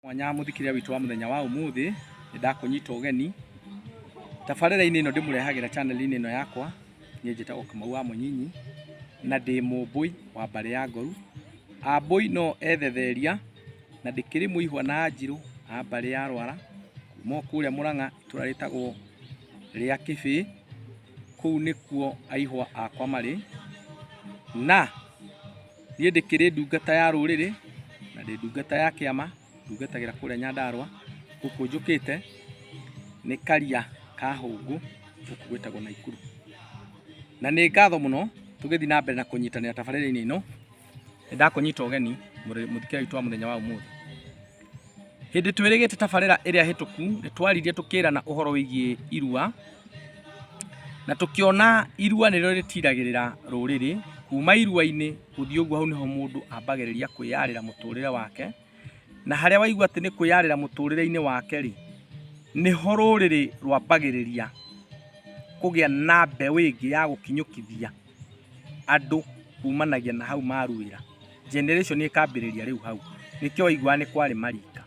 mwanya mũthikĩria witũ wa mũthenya wa ũmũthĩ nĩ ndakũnyita ũgeni tabarĩra-inĩ ĩno ndĩmũrehagĩra chaneli-inĩ ĩno yakwa niĩ njĩtagwo Kamau wa Mũnyinyi na ndĩ mũmbũi wa mbarĩ ya Ngoru ambũi no ethetheria na ndĩkĩrĩ mũihwa na njirũ a mbarĩ ya Rwara kuma o kũrĩa Mũrang'a itũra rĩtagwo rĩa Kĩbĩ kũu nĩkuo aihwa akwa marĩ na Niĩ ndĩkĩrĩ ndungata ya rũrĩrĩ na ndĩ ndungata ya kĩama ndungatagĩra kũrĩa Nyandarũa. Gũkũ njũkĩte nĩ karia ka hũngũ gũkũ gwĩtagwo Naikuru. Na nĩ ngatho mũno tũgĩthiĩ na mbere na kũnyitanĩra tabarĩra-inĩ ĩno, nĩ ndakũnyita ũgeni mũthikĩre witũ wa mũthenya wa ũmũthĩ. Hĩndĩ twĩrĩgĩte tabarĩra ĩrĩa hĩtũku nĩ twaririe tũkĩrana ũhoro wĩgiĩ irua na tũkĩona irua nĩrĩo rĩtiragĩrĩra rũrĩrĩ kuma irua-inĩ gũthiĩ ũguo hau nĩho mũndũ ambagĩrĩria kwĩyarĩra mũtũrĩre wake na harĩa waigua atĩ nĩ kwĩyarĩra mũtũrĩre-inĩ wake rĩ nĩho rũrĩrĩ rwambagĩrĩria kũgĩa na mbeũ ĩngĩ ya gũkinyũkithia andũ kumanagia na hau maruĩra, generation ĩkambĩrĩria rĩu hau, nĩkĩo waiguaga nĩ kwarĩ marika.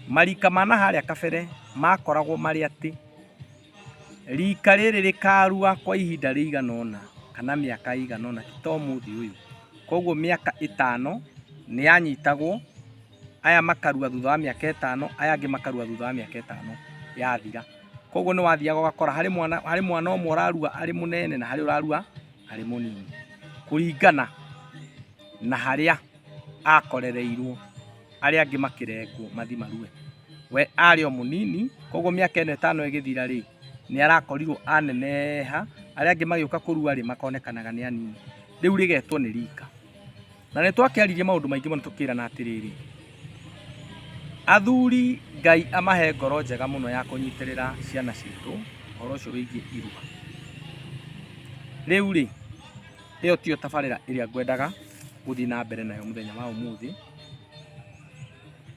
Marika ma na harĩa kabere makoragwo marĩ atĩ, rika rĩrĩ rĩkarua kwa ihinda rĩigana ũna kana mĩaka ĩigana ũna ti ta ũmũthĩ ũyũ. Koguo mĩaka ĩtano nĩ yanyitagwo. aya makarua thutha wa mĩaka ĩtano aya angĩ makarua thutha wa mĩaka ĩtano yathira koguo nĩ wathiaga ũgakora harĩ mwana harĩ mwana ũmwe ũrarua arĩ mũnene na harĩ ũrarua arĩ mũnini kũringana na harĩa akorereirwo arĩa angĩ makĩrengwo mathi marue we arĩ o mũnini koguo mĩaka ĩno ĩtano ĩgĩthira rĩ nĩ arakorirwo aneneha arĩa angĩ magĩũka kũrua rĩ makonekanaga nĩ anini rĩu rĩgetwo nĩ rika Na nĩ twakĩaririe maũndũ maingĩ mũno tũkĩrana atĩrĩrĩ, athuri Ngai amahe ngoro njega mũno ya kũnyitĩrĩra ciana citũ ũhoro ũcio wĩgiĩ irua. Rĩu rĩ, ĩyo tiyo tabarĩra ĩrĩa ngwendaga gũthiĩ na mbere nayo mũthenya wa ũmũthĩ.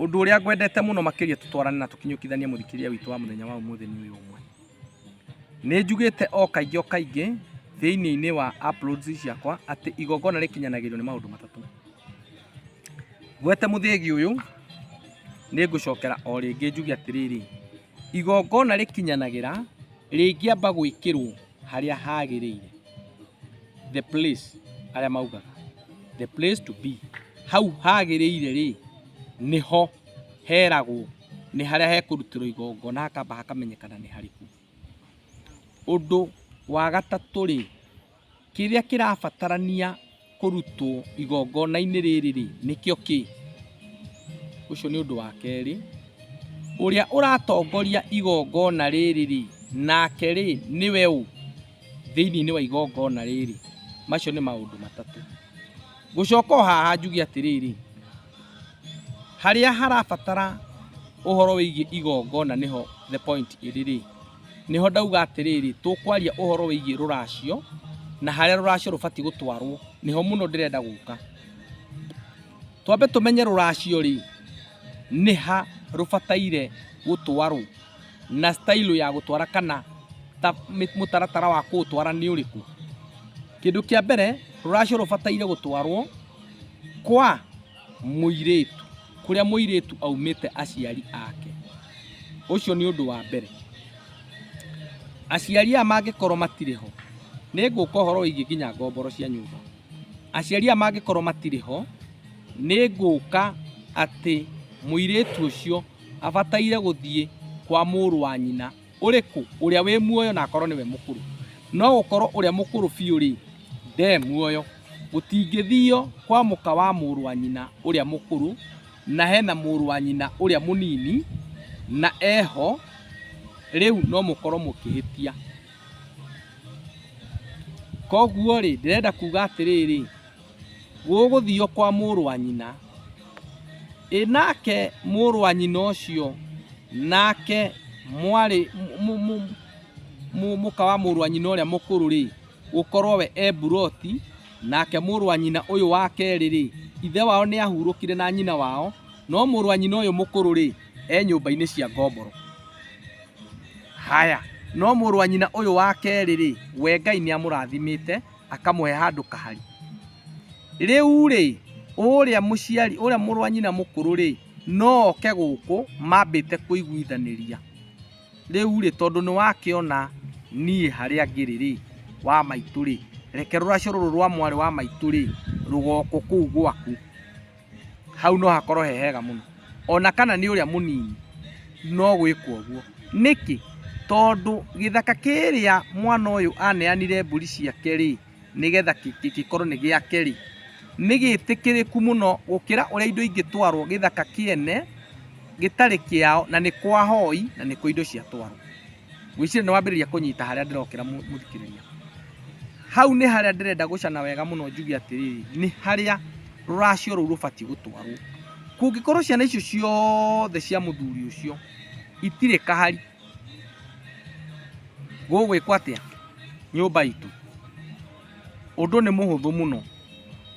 Ũndũ ũrĩa ngwendete mũno makĩria tũtwarane na tũkinyũkithanie mũthikĩria witũ wa mũthenya wa ũmũthĩ nĩ ũyũ ũmwe. Nĩ njugĩte o kaingĩ o kaingĩ thĩinĩ-inĩ wa uploads ciakwa atĩ igongona rĩkinyanagĩrio nĩ maũndũ matatũ. Ngwete mũthĩgi ũyũ, nĩ ngũcokera o rĩngĩ njuge atĩrĩrĩ, igongona rĩkinyanagĩra rĩngĩamba gwĩkĩrwo harĩa hagĩrĩire, the place arĩa maugaga, the place to be, hau hagĩrĩire rĩ, nĩho. heragwo nĩ harĩa hekũrutĩrwo igongona hakamba hakamenyekana nĩ harĩkũ. Ũndũ wa gatatũ rĩ, kĩrĩa kĩrabatarania kũrutwo igongona-inĩ rĩrĩ rĩ, nĩkĩo kĩ? Ũcio nĩ ũndũ wa kerĩ. Ũrĩa ũratongoria igongona rĩrĩ rĩ, nake rĩ, nĩwe ũ thĩinĩ wa igongona rĩrĩ? Macio nĩ maũndũ matatũ. Ngũcoka o haha njuge atĩrĩrĩ, Harĩa harabatara ũhoro wĩgiĩ igongona nĩho the point ĩrĩ rĩ, nĩho ndauga atĩrĩrĩ, tũkwaria ũhoro wĩgiĩ rũracio na harĩa rũracio rũbatiĩ gũtwarwo, nĩho mũno ndĩrenda gũka. Twambe tũmenye rũracio rĩ, nĩ ha rũbataire gũtwarwo. na style ya gũtwara kana ta mĩ- mũtaratara wa kũũtwara nĩ ũrĩkũ kĩndũ kĩa mbere rũracio rũbataire gũtwarwo kwa mũirĩtu kũrĩa mũirĩtu aumĩte aciari ake ũcio nĩ ũndũ wa mbere aciari aya mangĩkorwo matirĩ ho nĩ ngũka ũhoro wĩgiĩ nginya ngomboro cia nyũmba aciari aya mangĩkorwo matirĩ ho nĩ ngũka atĩ mũirĩtu ũcio abataire gũthiĩ kwa mũrũ wa nyina ũrĩkũ ũrĩa wĩ muoyo na akorwo nĩwe mũkũrũ no gũkorwo ũrĩa mũkũrũ biũ rĩ nde muoyo gũtingĩthio kwa mũka wa mũrũ wa nyina ũrĩa mũkũrũ na hena mũrũ wa nyina ũrĩa mũnini na eho rĩu no mũkorwo mũkĩhĩtia koguo rĩ ndĩrenda kuga atĩrĩrĩ gũgũthiio kwa mũrũ wa nyina ĩ nake mũrũ wa nyina ũcio nake mwarĩ mũka wa mũrũ wa nyina ũrĩa mũkũrũ rĩ gũkorwo we e buroti nake mũrũ wa nyina ũyũ wa kerĩ rĩ ithe wao nĩ ahurũkire na nyina wao no mũrũ wa nyina ũyũ mũkũrũ rĩ e nyũmba-inĩ cia ngomboro haya no mũrũ wa nyina ũyũ wa kerĩ rĩ we ngai nĩ amũrathimĩte akamũhe handũ kahari rĩu rĩ ũrĩa mũciari ũrĩa mũrũ wa nyina mũkũrũ rĩ no oke gũkũ mambĩte kũiguithanĩria rĩu rĩ tondũ nĩ wakĩona niĩ harĩa ngĩrĩ rĩ wa maitũ rĩ reke rũracio rũrũ rwa mwarĩ wa maitũ rĩ rũgokũ kũu gwaku hau no hakorwo he hega mũno ona kana nĩ ũrĩa mũnini no gwĩkwo ũguo nĩkĩ tondũ gĩthaka kĩrĩa mwana ũyũ aneanire mbũri ciake rĩ nĩgetha gĩkorwo nĩ gĩake rĩ nĩ gĩtĩkĩrĩku mũno gũkĩra ũrĩa indo ingĩtwarwo gĩthaka kĩene gĩtarĩ kĩao na nĩ kwa hoi na nĩkuo indo ciatwarwo. Wĩcire nĩ wambĩrĩria kũnyita harĩa ndĩrokĩra mũ- mũthikĩrĩria. Hau nĩ harĩa ndĩrenda gũcana wega mũno njuge atĩrĩrĩ, nĩ harĩa rũracio rũu rũbatiĩ gũtwarwo. Kũngĩkorwo ciana icio ciothe cia mũthuri ũcio itirĩ kahari, gũgwĩkwo atĩa nyũmba itũ? Ũndũ nĩ mũhũthũ mũno.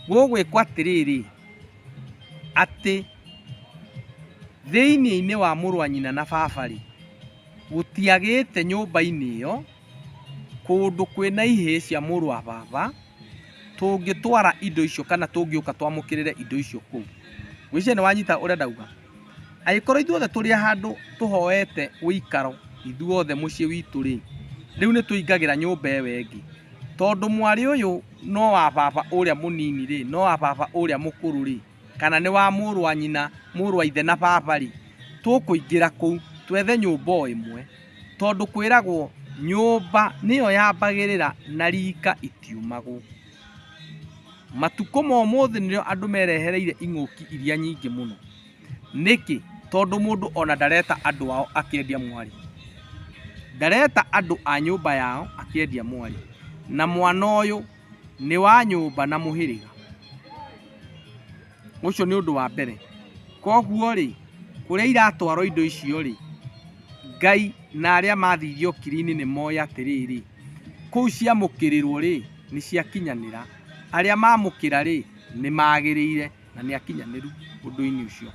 Gũgwĩkwo atĩrĩrĩ, atĩ thĩinĩ-inĩ wa mũrũ wa nyina na baba-rĩ, Gũtiagĩte nyũmba-inĩ ĩyo kũndũ kwĩna ihĩĩ cia mũrũ wa baba tũngĩtwara indo icio kana tũngĩũka twamũkĩrĩre indo icio kũu. Ngwĩciria nĩwanyita ũrĩa ndauga. Angĩkorwo ithuothe tũrĩ handũ tũhoete ũikaro ithuothe mũciĩ witũ rĩ, rĩu nĩtũingagĩra nyũmba ĩyo ĩngĩ. Tondũ mwarĩ ũyũ no wa baba ũrĩa mũnini rĩ, no wa baba ũrĩa mũkũrũ rĩ. kana nĩ wa mũrũ wa nyina, mũrũ wa ithe na baba rĩ, tũkũingĩra kũu twethe nyũmba o ĩmwe, tondũ kwĩragwo nyũmba nĩyo yambagĩrĩra na rika itiumagwo. Matukũ ma ũmũthĩ nĩrĩo andũ merehereire ing'ũki iria nyingĩ mũno. Nĩkĩ? Tondũ mũndũ ona ndareta andũ ao akĩendia mwarĩ. Ndareta andũ a nyũmba yao akĩendia mwarĩ. Na mwana ũyũ... nĩ wa nyũmba na mũhĩrĩga. Ũcio nĩ ũndũ wa mbere. Koguo rĩ, kũrĩa iratwarwo indo icio rĩ, Ngai na arĩa mathiire ũkiri-inĩ nĩ moĩ atĩrĩrĩ, kũu ciamũkĩrĩrwo rĩ, nĩ ciakinyanĩra. Arĩa mamũkĩra rĩ, nĩ magĩrĩire na nĩ akinyanĩru ũndũ-inĩ ũcio.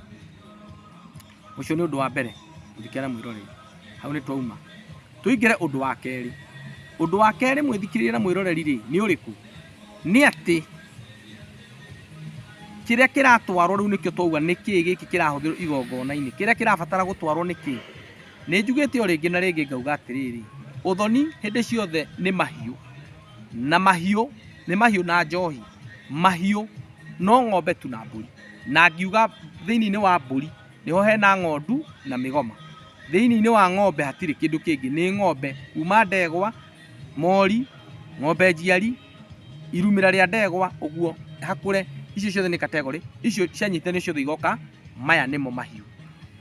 Ũcio nĩ ũndũ wa mbere ũngĩkĩara mwĩroreri. Hau nĩ twauma. Tũingĩre ũndũ wa kerĩ. Ũndũ wa kerĩ mwĩthikĩrĩria na mwĩroreri rĩ nĩ ũrĩkũ? Nĩ atĩ kĩrĩa kĩratwarwo rĩu nĩkĩo twauga nĩ kĩĩ gĩkĩ kĩrahũthĩrwo igongona-inĩ. Kĩrĩa kĩrabatara gũtwarwo nĩ kĩĩ? Nĩ njugĩte o rĩngĩ na rĩngĩ ngauga atĩrĩrĩ, ũthoni hĩndĩ ciothe nĩ mahiũ. Na mahiũ nĩ mahiũ na njohi. Mahiũ no ng'ombe tu na mbũri. Na ngiuga thĩinĩ wa mbũri nĩho hena ng'ondu na mĩgoma. Thĩinĩ wa ng'ombe hatirĩ kĩndũ kĩngĩ, nĩ ng'ombe kuma ndegwa, mori, ng'ombe njiari, irumĩra rĩa ndegwa ũguo hakũre, icio ciothe nĩ category, icio cianyitanio ciothe igoka maya nĩmo mahiũ.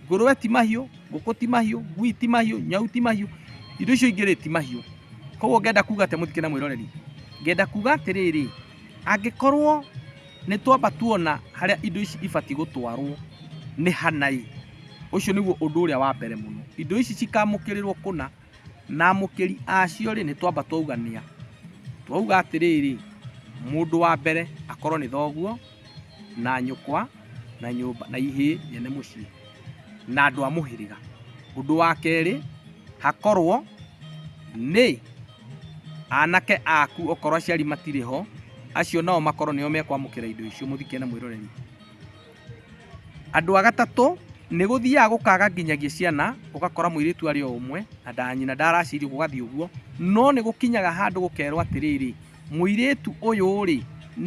Ngũrũwe ti mahiũ, ngũkũ ti mahiũ, ngui ti mahiũ, nyau ti mahiũ, indo icio ingĩ rĩ ti mahiũ. Koguo ngenda kuga atĩa mũthikĩ na mwĩroreri? Ngenda kuga atĩrĩrĩ, angĩkorwo... Nĩ twamba tuona harĩa indo ici ibatiĩ gũtwarwo nĩ hana ĩ, ũcio nĩguo ũndũ ũrĩa wa mbere mũno. Indo ici cikamũkĩrĩrwo kũna, na amũkĩri acio rĩ, nĩ twamba twauga nĩ a? Twauga atĩrĩrĩ, mũndũ wa mbere akorwo nĩ thoguo, na nyũkwa, na nyũmba, na ihĩĩ nyene mũciĩ, na andũ a mũhĩrĩga. Ũndũ wa kerĩ, hakorwo nĩ... Anake aku okorwo aciari matirĩ ho, acio nao makorwo nĩo mekwamũkĩra indo icio mũthike na mwĩroreri. Andũ a gatatũ, nĩ gũthiaga gũkaga nginyagia ciana, ũgakora mũirĩtu arĩ o ũmwe na nda nyina ndaracirio gũgathiĩ ũguo, no nĩ gũkinyaga handũ gũkerwo atĩrĩrĩ, mũirĩtu ũyũ rĩ,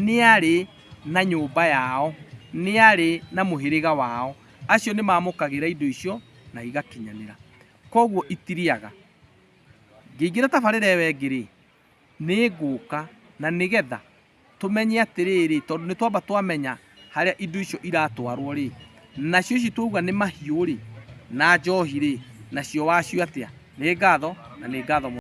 nĩ arĩ na nyũmba yao, nĩ arĩ na mũhĩrĩga wao, acio nĩ mamũkagĩra indo icio na igakinyanĩra. Koguo itirĩaga. Ngĩingĩra tabarĩra ĩyo ĩngĩ rĩ, nĩ ngũka na nĩgetha tũmenye atĩrĩrĩ, tondũ nĩ twamba twamenya harĩa indo icio iratwarwo rĩ, nacio ici twauga nĩ mahiũ rĩ, na njohi rĩ, nacio wacio atĩa? Nĩ ngatho na nĩ ngatho mũno.